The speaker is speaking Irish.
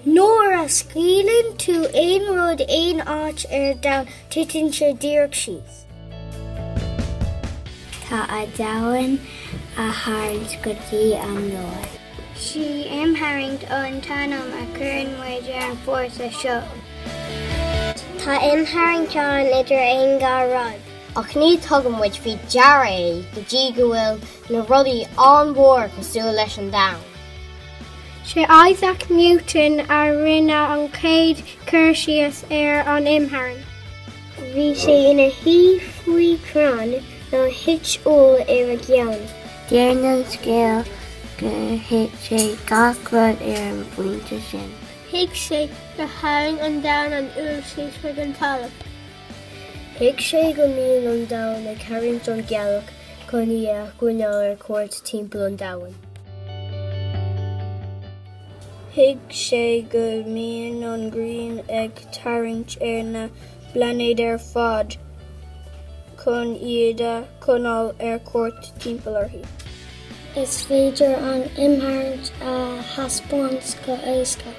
Nuair a scaoileann tú aon rud aon áit ar domhan, titeann sé díreach síos. Tá an domhan á tharraingt go dtí an lár. Sí imtharraingt an t-ainm a chuireann muid ar an bhfórsa seo. Tá imtharraingt ann idir aon dhá rud. Ach ní thugann muid faoi deara é go dtí go bhfuil na rudaí an-mhór cosúil leis an domhan. Sé Isaac Newton a rinne an chéad cur síos ar an imtharraingt. Bhí sé ina shuí faoi chrann nuair a thit úll ar a cheann. Deir an scéal gur thuig sé gach rud ar an bpointe sin. Thuig sé gur tharraing an domhan an úll síos chuig an talamh. Thuig sé go mbíonn an domhan ag tarraingt an ghealach chun í a choinneáil ar cuairt timpeall an domhain. Thuig sé go mbíonn an ghrian ag tarraingt ar na bplainéid ar fad chun iad a choinneáil ar cuairt timpeall uirthi. Is féidir an imtharraingt a thaispeáint go héasca.